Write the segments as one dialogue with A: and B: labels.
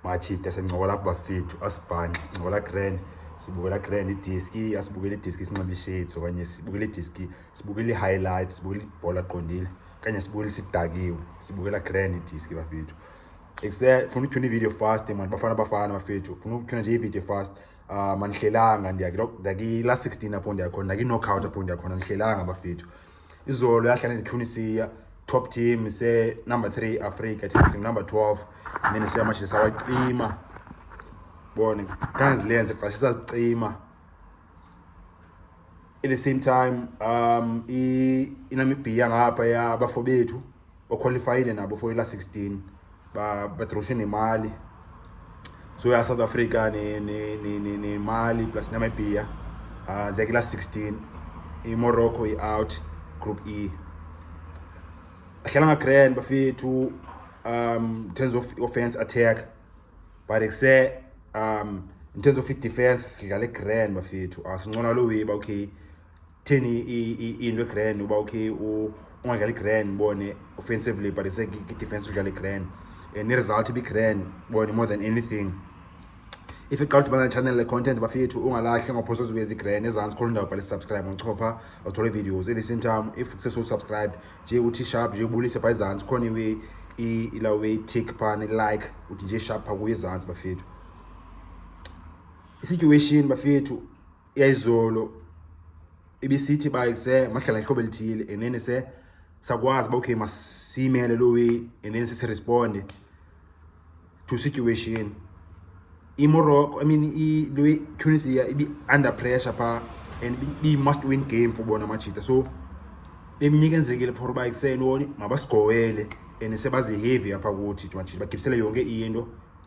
A: machita sincokola apho bafethu asibhanxe sincokola grand sibukela grand idiski asibukela idiski sinxiba ishades okanye sibukela idiski sibukela ii-highlights sibukela ibhola qondile okanye sibukela sidakiwe sibukela grand idiski bafethu ekuse funa utyhuna ividiyo fast mani bafana bafana bafethu funa utyhuna nje ividiyo fast um ah, andihlelanga ndiyakila sixteen apho ndiyakhona ndakinocout apho ndiyakhona andihlelanga bafethu izolo yahlala netunisia top team isenumber three africa thina singunumber twelve mina siyamashini sawacima bone kanzilenze qashe sazicima at the same time um inamibhiya ngapha yabafo bethu okhwalifayile nabo for ila 16 badroshe nemali so ya south africa nemali plus namibia uh, ziyakila 16 imorocco i-out group e ahlala ngagrand bafethu um in terms of offense attack but ekuse um in terms of i-defense sidlale grand bafethu asincona ah, lo weba okay theni into egrand uba ukhe ungadlali grand bone offensively but ise kidefense udlale grand and eh, iresult ibigrand bone more than anything if iqala udibana nechannel le-content bafethu ungalahli ngophosa ozibuye zigrand ezantsi khona indawo bhale subscribe ngochopha uthole videos at the same time if sesosubscribe nje uthi sharp nje ubulise pha ezantsi khona iwe ilawe tick phana like uthi nje sharp pha kuye ezantsi bafethu isituation bafethu yayizolo ibisithi ba se mahlala ihlobo elithile and then se sakwazi ba okay masimele lo way and then sisi respond to situation imorocco i mean i lo tunisia ibi under pressure pha and be must win game for bona amajita so bemnyike enzekile for uba ekuseni woni mabasigowele and sebazi-heavy apha kuthi majita bagibisele yonke into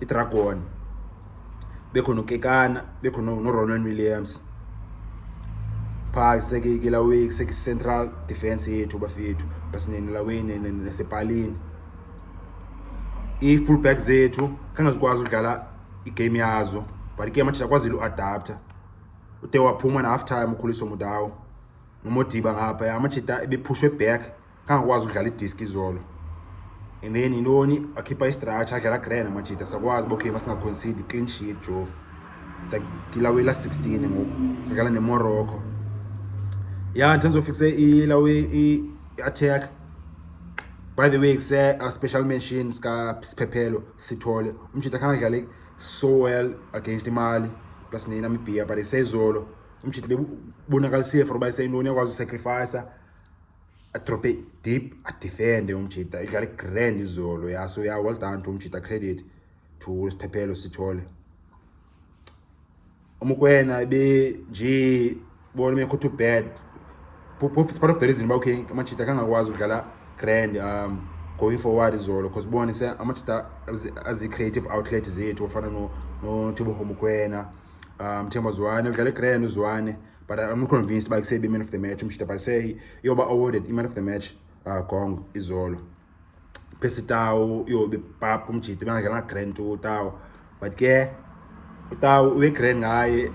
A: idragon bekho nokekana bekho noronwen williams phaa isekeikelaweki isekicentral defense yethu bafethu basinenelaweni nasepalini ii-fullback zethu khange zikwazi udlala igame yazo but igame atshisa kwazile uadaptha ude waphuma na-half time ukhuliso mudawo nomodiba ngapha amajita ebephushwe back kangakwazi ukudlala idiski izolo and then yintoni akhipha istratsha adlala grand amajita sakwazi uba okay masingaconcide clean sheet jova sakilawela 16 ngoku sadlala nemorocco ya in terms of fikse ilawe i-attack by the way kuse a special mention sikasiphephelo sithole umjita khanga dlale so well against imali plus nenamibia but isezolo umjita bebonakalisile for uba iseyintoni yakwazi usacrificer atrope deep adifende umjita idlale grand izolo yaso ya well done to umjita credit to siphephelo sithole umukwena ibe nje bona mekho too bad pop is part of the reason uba okay amajita kangakwazi ukudlala grand um going forward izolo because bona se amajita azi-creative outlet zethu ofana nothibongo mukwena um themba zwane udlale grand uzwane But I'm not convinced by say man of the match umshita but say yoba awarded man of the match uh, gong izolo. Pesi tawo yobe pap umjita bana kana grand to tawo. But ke tawo we grand ngaye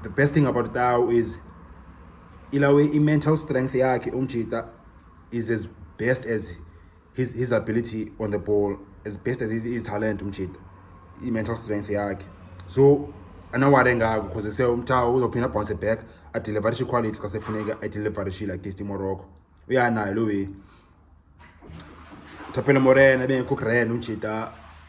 A: the best thing about tawo is ilawe i mental strength yakhe umjita is as best as his, his ability on the ball as best as his, his talent umjita i-mental strength yakhe so anawari engako because se umthawu uzophinda bounce back adeliverishe iquality xa sefuneke adeliverishile against imorocco uyanayo lo way thapele morena ebengekho kuren umjita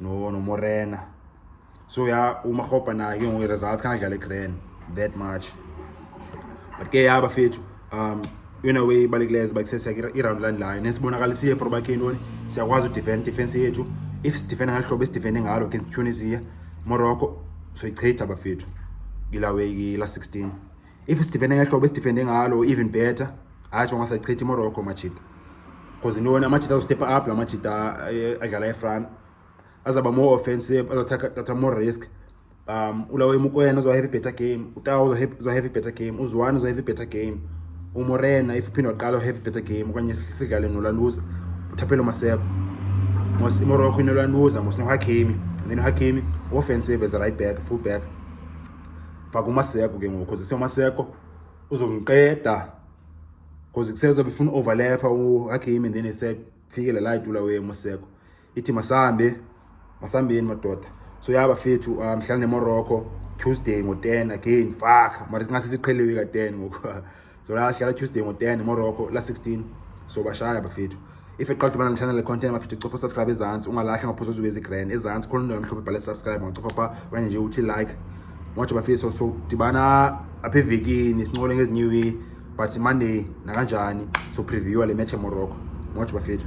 A: no nomorena so ya umarhobha naye ke ngoku iresults khanadlale igran that much but ke yaba fethu um in a way ibalulekileyo ziba kuseseka iround landlayo nesibonakalisiye for uba khentoni siyakwazi udefend defense yethu if sidefenda ngalo hlobo esidefende ngalo against tunisia morocco soyichitha bafethu kila way kila 16 if sidifende ngehlobo esidifende ngalo even better hatsho ngasachitha imorocco amajita because intoni amajita azostepha up la majita eh, adlala efran azaba more offensive azathatha more risk um ulawe mukwena uzohave better game utawo uzohave better game uzwane uzohave better game umorena if uphinde waqala uhave better game okanye sidlale nolanduza uthaphelo maseko mos imorocco inolanduza mos nohakemi then uhakemi offensive as a right back full back faka umaseko ke ngoku cause umaseko uzomqeda cause kuseza befuna overlapper uHakimi then esefikele la itula we umaseko ithi masambe masambeni madoda so yaba fethu uh, mhlawumbe nemorocco tuesday ngo-10 again fuck mara singase siqheliwe ka-10 ngoku so ladlala tuesday ngo-10 morocco la 16 so bashaya bafethu if eqala ukubana nechannel content bafethu cofa usubscribe ezantsi ungalahli ngaphosa uzube ezigran ezantsi khona indawo emhlophe bhala subscribe ngacofa pha okanye nje uthi like ngotsho bafethu so dibana apha evekini sincole ngezinye iwee but monday nakanjani so previewa le match emorocco ngotsho bafethu